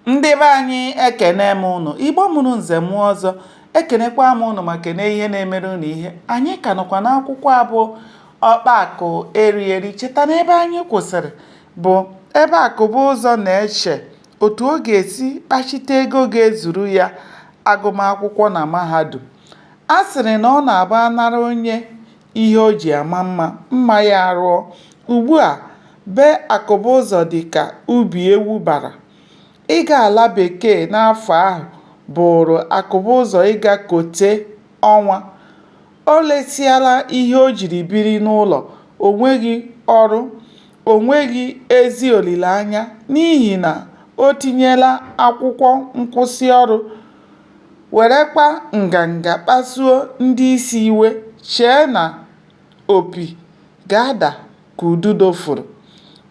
ndị be anyị ekene m ụnụ igbo mụrụ nze mụọ ọzọ ekenekwa m ụnụ ma kene ihe na-emere ụnụ ihe anyị ka nọkwa n'akwụkwọ a bụ ọkpa akụ eri eri cheta na ebe anyị kwụsịrị bụ ebe akụbụzọ na-eche otu ọ ga-esi kpachite ego ga-ezuru ya agụmakwụkwọ na mahadum a sịrị na ọ na-abụ a nara onye ihe o ji ama mma, mma ya arụọ. Ugbu a, be Akụbụzọ dị ka ubi ewu bara. Ịga ala bekee n'afọ ahụ bụụrụ Akụbụzọ ịga kote ọnwa. O lesịala ihe o jiri biri n'ụlọ, o nweghị ọrụ, o nweghị ezi olileanya n'ihi na o tinyela akwụkwọ nkwụsị ọrụ werekwa nganga kpasuo ndị isi iwe, chee na opi ga-ada ka ududo fụrụ.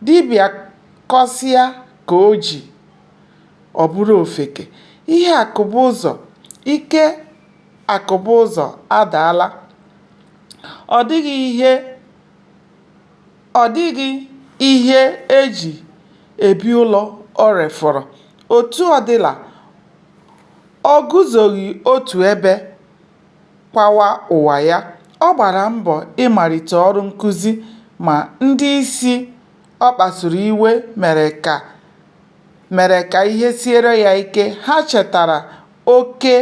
Dibịa kọsịa ka o ji, ọ bụrụ ofeke. Ihe Akụbụzọ, ike Akụbụzọ adaala. Ọ dịghị ihe ọ dịghị ihe e ji ebi ụlọ o refọrọ. Otu ọ dịla Ọ guzoghị otu ebe kwawa ụwa ya, ọ gbara mbọ ịmalite ọrụ nkụzi ma ndị isi ọ kpasuru iwe mere ka mere ka ihe siere ya ike. Ha chetara oke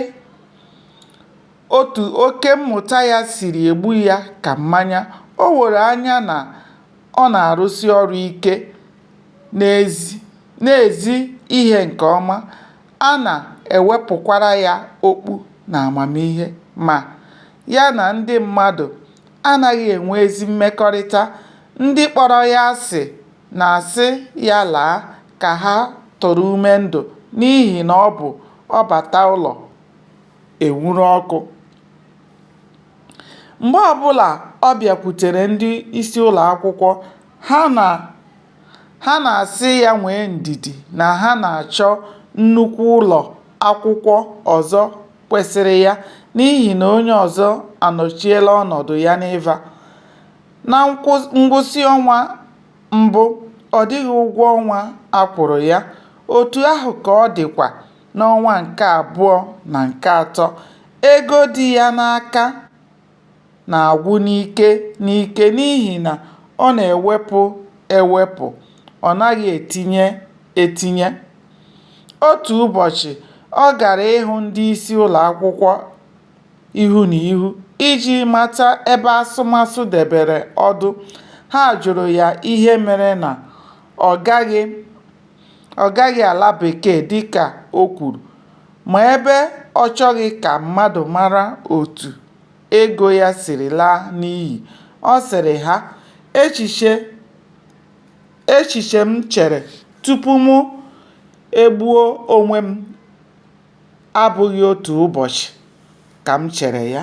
otu oke mmụta ya siri egbu ya ka mmanya. O woro anya na ọ na-arụsi ọrụ ike, na-ezi na-ezi ihe nke ọma, a na-ewepụkwara ya okpu n'amamihe. Ma, ya na ndị mmadụ anaghị enwe ezi mmekọrịta, ndị kpọrọ ya asị na-asị ya laa ka ha tụrụ ume ndụ n'ihi na ọ bụ ọ bata, ụlọ enwuru ọkụ. Mgbe ọ bụla ọ bịakwutere ndị isi ụlọ akwụkwọ, ha na Ha na-asị ya nwee ndidi na ha na-achọ nnukwu ụlọ akwụkwọ ọzọ kwesịrị ya n'ihi na onye ọzọ anọchiela ọnọdụ ya n'Iva. Na ngwụsị ọnwa mbụ, ọ dịghị ụgwọ ọnwa a kwụrụ ya, otu ahụ ka ọ dịkwa n'ọnwa nke abụọ na nke atọ. Ego dị ya n'aka. na-agwụ n'ike n'ike n'ihi na ọ na-ewepụ ewepụ, ọ naghị etinye etinye. Otu ụbọchị, ọ gara ịhụ ndị isi ụlọ akwụkwọ ihu na ihu iji mata ebe asụmasụ debere ọdụ. Ha jụrụ ya ihe mere na ọ gaghị ọ gaghị ala Bekee dịka o kwuru, ma ebe ọ chọghị ka mmadụ mara otu ego ya siri laa n'iyi, ọ sịrị ha: "Echiche m chere tupu mụ egbuo onwe m abụghị otu ụbọchị ka m chere ya.